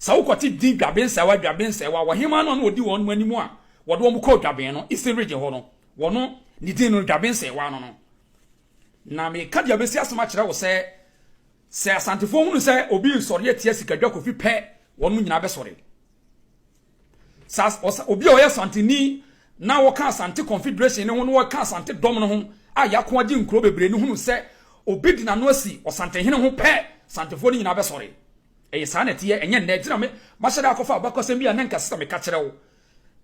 sɛ wokɔte din dwaben sɛwa dwaben sɛwa wɔ hema no a na wɔdi wɔn nom anim a wɔde wɔn kɔɔ dwaben no eastern region hɔ no wɔno ne din no dwaben sɛwa no no na meka deɛ bɛsi asɛm akyerɛ wo sɛ sɛ asantefoɔ hunu sɛ obi nsɔre atia sikadwa kofi pɛ wɔn mu nyinaa bɛsɔre sa obi a ɔyɛ santeni na wɔka asante confederation ne ho na wɔka asante dɔm no ho a yɛako agye nkuro bebree no hunu sɛ obi de n'ano asi ɔsantehene ho pɛ santefoɔ no nyinaa bɛsɔre Ɛyɛ saa na ɛteɛ, ɛnyɛ nnɛ nti na me mahyɛ da akɔfa abakɔsɛm bi a na nka ɛsɛ sɛ meka kyerɛ wo.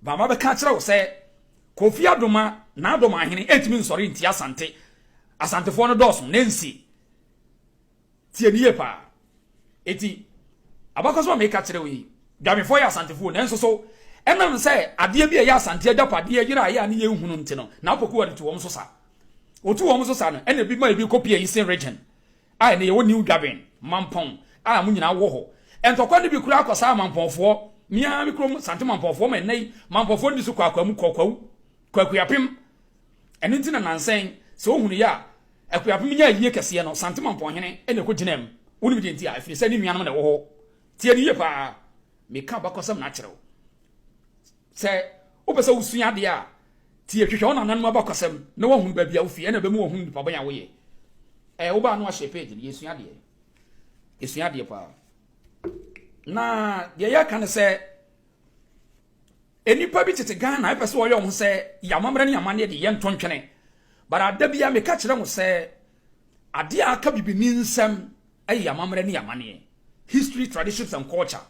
Ba mabɛka akyerɛ wo sɛ Kofi Adoma, Nadoma ahene, ɛntumi nsɔre ntia Asante. Asantefoɔ no dɔɔso, Nancy. Tie me yie paa. Enti, abakɔsɛm a meka kyerɛ wo yi, Dwamefoɔ yɛ Asantefoɔ, nanso so ɛnam sɛ adeɛ bi a ɛyɛ Asante agyapadeɛ yeraeɛ a ne yɛnhu no nti no, na apokuwa no tu wɔn so sa. Wɔtu wɔn so sa no, ɛna ebi ma ebi kɔ Pia Eastern Region. A Ɛnnɛ yɛwɔ New Dwaben mampɔn a mo nyinaa wɔ hɔ. Ntɔkwa no bi koraa kɔ saa mampɔnfoɔ, me ara me kurom Sante mampɔnfoɔ ma ɛnnɛ yi mampɔnfoɔ nni so kwaakwa mu kɔkwawu, kwakuapem. Ɛno nti na nansɛn sɛ wohunuiɛ a akuapem nya ayie kɛseɛ no, Sante mampɔnhene na ɛkɔgyinaa mu. Wonim deɛ nti a? Ɛfiri sɛ ne nuanom na ɛwɔ hɔ. Tie no yie pa ara, meka abakɔsɛm na akyerɛ wo. Sɛ wopɛ sɛ wusua ade a, tie, hwehwɛ wo nananom abakɔsɛm na woahunu baabi a wofi, ɛnna ɛbɛma woahunu nnipa bɔn a woyɛ. Ɛɛ, wo baa no ahyɛ page no, yɛsua adeɛ. Yɛsua adeɛ paa. Na deɛ yɛka ne sɛ, nnipa bi tete Ghana ɛpɛ sɛ wɔyɛ wɔn ho sɛ yɛamammerɛ ne amanneɛ de yɛntɔ ntwene. But ada biara meka kyerɛ mo sɛ, adeɛ a aka bibini nsɛm ɛyɛ yɛamammerɛ ne yɛamanneɛ, history, traditions and culture.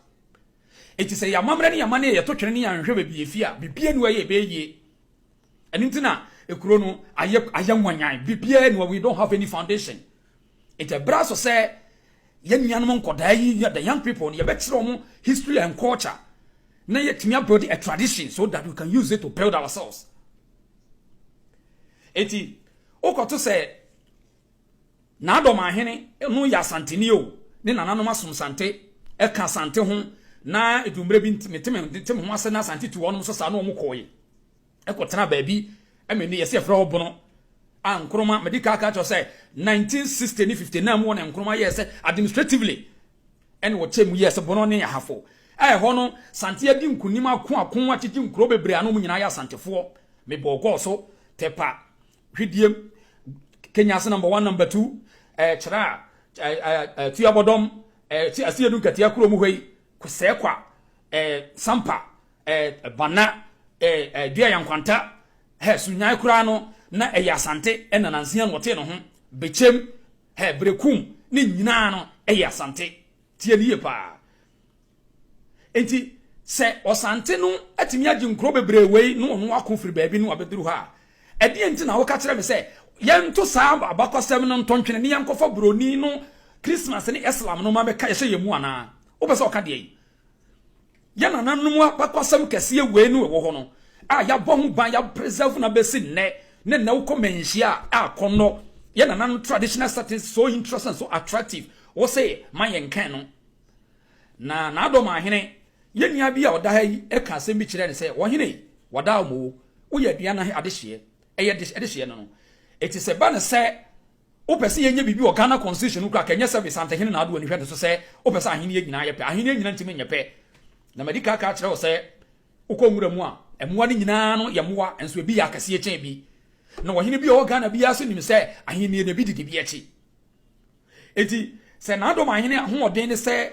Enti sɛ yɛn amammerɛ ne yɛn amanneɛ yɛto twene ne yɛanhwehwɛ baabi a efi a, biribiara nni hɔ a ɛyɛ a ɛbɛyɛ yie. Ɛno nti na kuro no ayɛ ayɛ nwanyan. Biribiara nni hɔ, we don't have any foundation. Enti ɛberɛ aso sɛ yɛn nuanom nkɔdaa yi, the young people no, yɛbɛkyerɛ wɔn history and culture na yɛatumi abuild a tradition so that we can use it to build ourselves. Enti wokɔto sɛ N'adɔm ahene no yɛ Asanteni o, ne nananom asomsante ɛka Asante ho na ɛduru mmerɛ bi mete me ho ase na Asante tu wɔnom so saa na wɔn kɔɔe ɛkɔ tenaa baabi ɛmɛ ni yɛsɛ yɛfrɛ hɔ Bono a Nkrumah medi kaa kaa kyerɛ sɛ 1960 ne 59 mu wɔ na Nkrumah yɛɛ sɛ administratively ɛne wɔkyɛ mu yɛɛ sɛ Bono ne Ahafo a ɛhɔ no Sante adi nkunim ako ako akyegye nkuro bebree ano mu nyinaa yɛ Asantefoɔ mebɔɔ gɔɔ so tɛpa Hwidiem, Kenya ase number one number two, ɛɛ kyerɛ a, ɛɛ ɛɛ tuyabɔdɔm, ɛɛ ti ase edu nkatia kuro mu hɔ yi, kusɛɛkwa, ɛɛ sampa, ɛɛ bana, ɛɛ ɛɛ dua yankwanta, hɛ sunyae koraa no na ɛyɛ asante ɛna nansia na ɔte ne ho, bekyem, hɛ berekum ne nyinaa no ɛyɛ asante tie ne yie paa Enti sɛ Ɔsante no atumi agye nkuro bebree wei na ɔno ako firi baabi no abɛduru ha a, ɛdeɛn nti na woka kyerɛ me sɛ yɛnto saa abakɔsɛm no ntɔntwene ne yɛnkɔfa buroni no Christmas ne Islam no ma bɛka yɛhyɛ yɛn mu anaa? Wopɛ sɛ ɔka deɛn? Yɛn nananom abakɔsɛm kɛseɛ wei no ɛwɔ hɔ no a yɛabɔ ho ban yɛapreserve na bɛsi nnɛ ne nnɛ wokɔ manhyia a akɔnnɔ yɛn nananom traditional settings so interesting so attractive wo se ma yɛnkan no Na n'adɔm ahene, yɛn nua bi a ɔda ha yi ka asɛm bi kyerɛɛ no sɛ, Ɔhene, wɔdaa wo moo, woyɛ aduan no adehyeɛ, ɛyɛ de adehyeɛ no no. Eti sɛ ba no sɛ wopɛ sɛ yɛnyɛ biribi wɔ Ghana constitution no kura ka ɛnyɛ sɛ Santehene na adoa ni hwɛ no so sɛ wopɛ sɛ ahenni nyinaa yɛ pɛ. Ahenni nyinaa ntumi nyɛ pɛ. Na madi ka ka kyerɛ wo sɛ wokɔ nwura mu a, mmoa no nyinaa no yɛ mmoa, nso ebi yɛ akɛseɛ kyɛn bi. Na ɔhene bi a ɔwɔ Ghana biara nso nim sɛ ahenni no ebi didi bi akyi. Enti sɛ n'adom ahene ahoɔden ne sɛ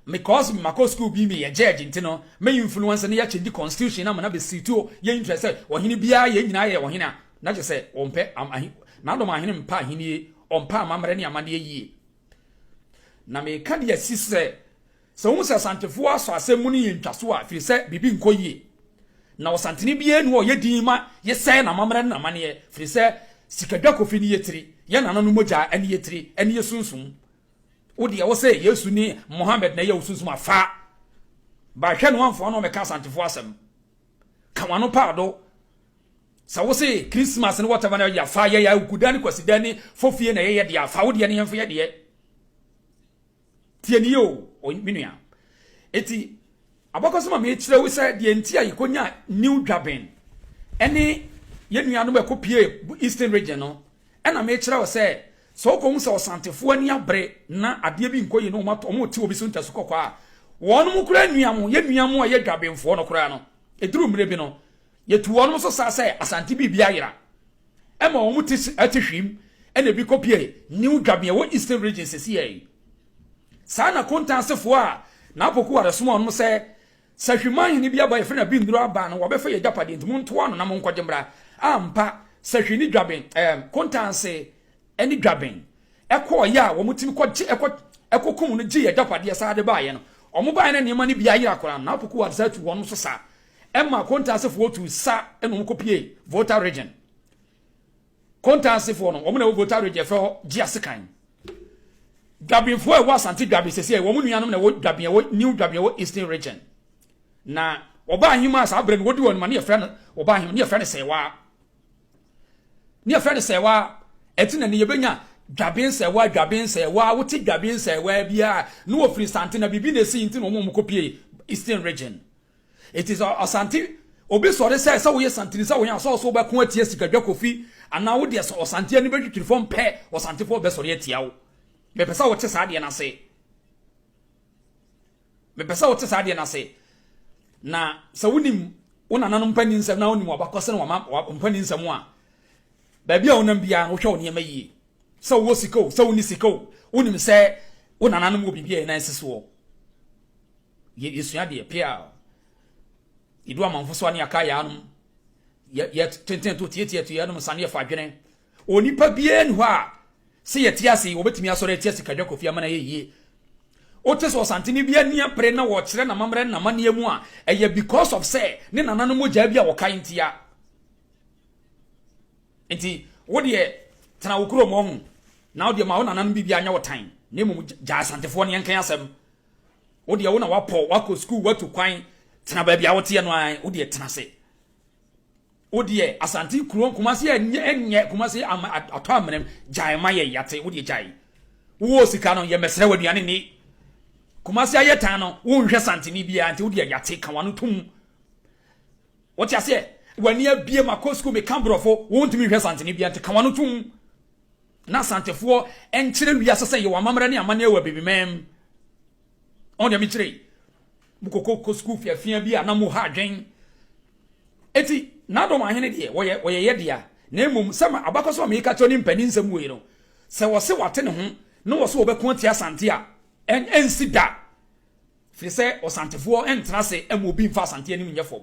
mekɔɔs makɔ sukuu bi me yɛ judge nti no me influence ne yɛ change constitution na mena be situo yɛ interest sɛ ɔhene biara yɛn nyinaa yɛ ɔhene a na kyɛ sɛ ɔmpɛ ahe n'adom ahene mpa ahennie ɔmpɛ amammerɛ ne amanneɛ yie na meka de asi so sɛ Sɛ wohu sɛ Asantefoɔ asɔ asɛm mu no yɛ ntwaso a, firi sɛ biribi nkɔ yie. Na Ɔsantene biara nni hɔ a ɔyɛ dinn ma yɛ sɛɛ n'amammerɛ ne n'amanneɛ, firi sɛ sikadwakofi ne yɛ tiri, yɛ nananom mogya ne yɛ tiri, ne yɛ sunsum. Wo deɛ wo se Yesu ne Mohammed na ɛyɛ wo sunsum a, fa ba hwɛ na woamfa w'ano ammɛka Asantefoɔ asɛm. Ka w'ano paado. Sɛ wo se Christmas ne whatever na yɛfa yɛyɛ a, Owukuda ne Kwasida ne Fofie na ɛyɛ yɛ deɛ a, fa wo deɛ ne yɛmfa yɛ deɛ. Tie no yie o, ɔy me nua. Enti abakɔsɛm a merekyerɛ wo sɛ deɛ nti a yɛkɔnyaa New Dwaben ne yɛn nuanom a ɛkɔpuee Eastern Region no, ɛna merekyerɛ wo sɛ, sɛ wokɔhu sɛ Ɔsantefoɔ ani abere na adeɛ bi nkɔ yie na wɔato wɔrete obi so ntasu kɔkɔɔ a, wɔnom koraa nnuam, yɛn nnuam a ɛyɛ Dwabenfoɔ no koraa no, ɛduru mmerɛ bi no, Yɛtu wɔnom so saa sɛ Asante biribi ayera ma wɔn ti te hwim na ebi kɔpue New Dwabea wɔ Eastern Region sesiɛ yi. Saa na Kontan asefoɔ a Naapoku Ware soma wɔnom sɛ sɛ Hwiman hene bi aba yɛfrɛ no Abinduro aba a na wɔbɛfa yɛn agyapadeɛ nti montoa ano na monkɔgye mmra. Ampa sɛ Hwi ne Dwaben, ɛɛm, Kontan ase ne Dwaben kɔɔeɛ a wɔtumi kɔgye, kɔ, kɔkum no gyee yɛn agyapadeɛ saa de baeɛ no. Wɔbaeɛ na nneɛma no bi ayera koraa no Naapoku Ware san tu wɔnom so saa Ɛma Konta asefoɔ tuu sa na wɔn kɔ pie Volta Region. Konta asefoɔ no, wɔn na ɛwɔ Volta Region yɛfrɛ hɔ Gyeasekan. Dwabinfoɔ a ɛwɔ Asante Dwabi sɛsɛ, wɔn nuanom na ɛwɔ Dwabin, ɛwɔ New Dwabin, ɛwɔ Eastern Region. Na wɔba ahema a saa berɛ no wɔdi wɔn ma ne yɛfrɛ no, wɔba ahema ne yɛfrɛ no Sɛwaa. Ne yɛfrɛ no Sɛwaa, ɛti na ne yɛbɛnya Dwabin Sɛwaa, Dwabin Sɛwaa, wote Dwabin Sɛwaa biara, ne wɔfiri Sante na biribi na ɛsii nti na wɔn wɔn kɔ pie Eastern Region. Enti sɛ ɔsante obi sɔre sɛ sɛ woyɛ santini sɛ wɔn a sɛ ɔso wobɛko atia sikadwa kofi anaa wo deɛ sɛ ɔsante ani bɛtwitwiri fam pɛ ɔsantefoɔ bɛsɔre atia wo mepɛ sɛ wote saa deɛ no ase mepɛ sɛ wote saa deɛ no ase na sɛ wonim wo nananom mpani nsɛm na wonim wabakɔsɛ no wama mpani nsɛm a baabi a wonam biara no wohwɛ wo nneɛma yie sɛ wowɔ sika o sɛ wonni sika o wonim sɛ wo nananom wɔ biribi a ɛnan si soɔ Yɛ yɛsua deɛ pea a yɛdu amanfo so a ne yɛaka yaa nom yɛ tenten to tietia to yɛnom nsa ne yɛfa adwene onipa biara ni hɔ a sɛ yɛte ase wɔbɛtumi asɔre atia sikadwa kofi ama no ayɛ yie wote sɛ ɔsantene bi ani apere na wɔkyerɛ namammerɛ namanneɛ mu a ɛyɛ because of sɛ ne nana no mogyaa bi a wɔkae ntia nti wodeɛ tena wo kurom ɔho na wodeɛ ma wo nananom biribi anyɛ wo tan na mmom gyaa asantefoɔ ne yɛnkan asɛm Wo deɛ wo na wapɔ wakɔ sukuu watu kwan tena baabi a woteɛ no ara wo deɛ tena se. Wo deɛ asante kuro Kumase ɛnyɛ Kumase atɔ amena gyae ma yɛ yate wo deɛ gyae. Wo sika no yɛ mɛsrɛ w'aduane ni. Kumase ayɛ tan no wo nhwɛ santene biara nti wo deɛ yate ka wano tum. Wote aseɛ? W'ani abie ma kɔ sukuu meka borɔfo, wontumi nhwɛ santene bia nti ka w'ano tom na santefoɔ nkyerɛ wiase sɛ yɛwɔ amammerɛ ne amanneɛ wɔ abibimam. Ɔn deɛ mekyerɛ yi, mokɔkɔ kɔ sukuu fiafia bi a na moha adwen. Eti n'adɔm ahene deɛ wɔyɛ wɔyɛ yɛ dea na mmom sɛ ma abakɔsɛm a meka kyerɛ ne mpanin nsɛm wei no, sɛ wɔse wɔate ne ho na wɔse wɔbɛko atia Asante a, ɛn ɛnsi da. Firi sɛ ɔsantefoɔ ntena ase mma obi mfa asante anim nyɛ fam.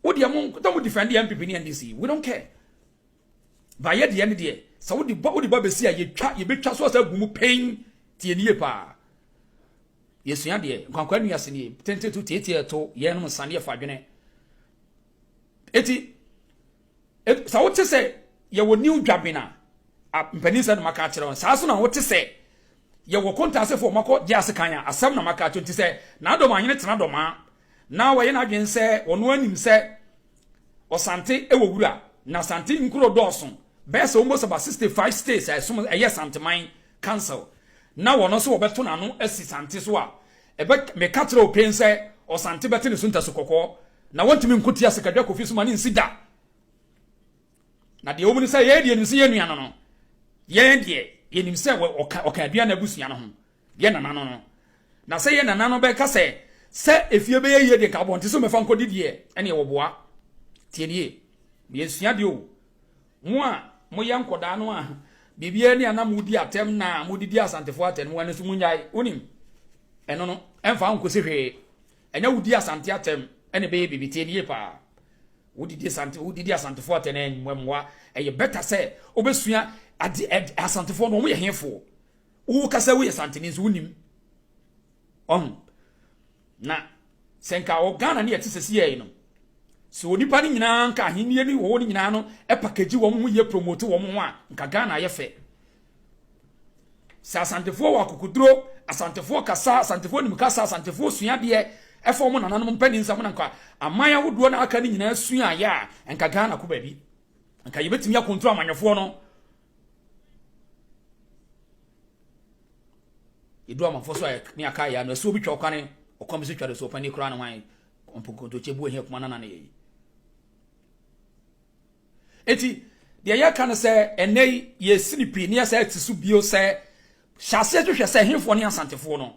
Wo deɛ mo na mo defend yɛ MPP ne NDC we don't care. Ba yɛ deɛ ne deɛ sɛ wo de ba wo de ba bɛsi a yɛtwa yɛbɛtwa so asa gu mu pɛn tie nie paa. Yɛsua deɛ nkwankwa nua ase nie tente to tietie to yɛnom nsaneɛ fa dwene. Eti Sɛ wote sɛ yɛwɔ New Dwaben a, a mpanin sɛ na maka akyerɛ wɔn. Saa nso na wote sɛ yɛwɔ Kontasefo a wɔakɔ gye ase kan a, asɛm na maka akyerɛ nti sɛ n'adɔm anyene tena dɔmaa na wɔyɛ n'adwene sɛ wɔn ara nim sɛ Ɔsante wɔ wura na Asante nkuro dɔɔso bɛyɛ sɛ almost about 65 states a ɛsom ɛyɛ Santeman Council na wɔn nso wɔbɛto n'ano asi Sante so a ɛbɛ meka kyerɛ open sɛ Ɔsante bɛte ne so ntasu kɔkɔɔ Na wɔntumi nko tia sikadwa Kofi so ma no nsi da. Na deɛ ɛwɔ mu ne sɛ, yɛn deɛ yɛnim sɛ yɛn nua no no, yɛn deɛ yɛnim sɛ ɔka ɔka aduane abusua no ho, yɛn nana no no. Na sɛ yɛn nana no bɛka sɛ, sɛ efie bɛyɛ yie deɛ nka abɔnten so mmɛfa nkɔdi deɛ, ɛneɛ wɔboa. Tie nie, meyɛ suadeɛ o. Mo a moyɛ nkɔdaa no a, biribiara ni a na modi atɛm na modidi Asantefoɔ atɛm, ɛno nso monyae. Wonim, ɛno no, ɛmfa wo nkɔsi hwee. Ɛnɛ wodi Asante atɛm ɛna ɛbɛyɛ biribi tie nie paa wodidi Asante wodidi Asantefoɔ atɛm na ɛnwɛ mmoa ɛyɛ bɛta sɛ wobɛsua ade ɛd Asantefoɔ no wɔn yɛ hefoɔ wo kasa woyɛ Santeni nso wonim ɔn na sɛ nka wɔ Ghana ne yɛte sɛ si yɛi no sɛ onipa no nyinaa nka ahennie ne wɔwɔ no nyinaa no ɛpakagyi wɔn ho yɛ promote wɔn ho a nka Ghana ayɛ fɛ sɛ asantefoɔ wɔ akokoduro asantefoɔ kasa asantefoɔ nim kasa asantefoɔ sua deɛ ɛfa wɔn nananom mpanin nsɛm na nka aman ahodoɔ na aka ne nyinaa sua ayɛ a nka ghana ko baabi nka yɛbɛtumi akontoro amanyɔfoɔ no yɛdu amanfoɔ so a ne aka yɛ ano ɛsɛ obi twa ɔkwane ɔkwan bi so twa de so ɔpani koraa ne hwan ɔmpokontokye bu ahia kuma nana ne yɛyi Enti, deɛ yɛka no sɛ ɛnɛ yi yɛsi no pii na yɛsɛ te so bio sɛ hyɛ aseɛ hwehwɛ sɛ hefoɔ ne Asantefoɔ no.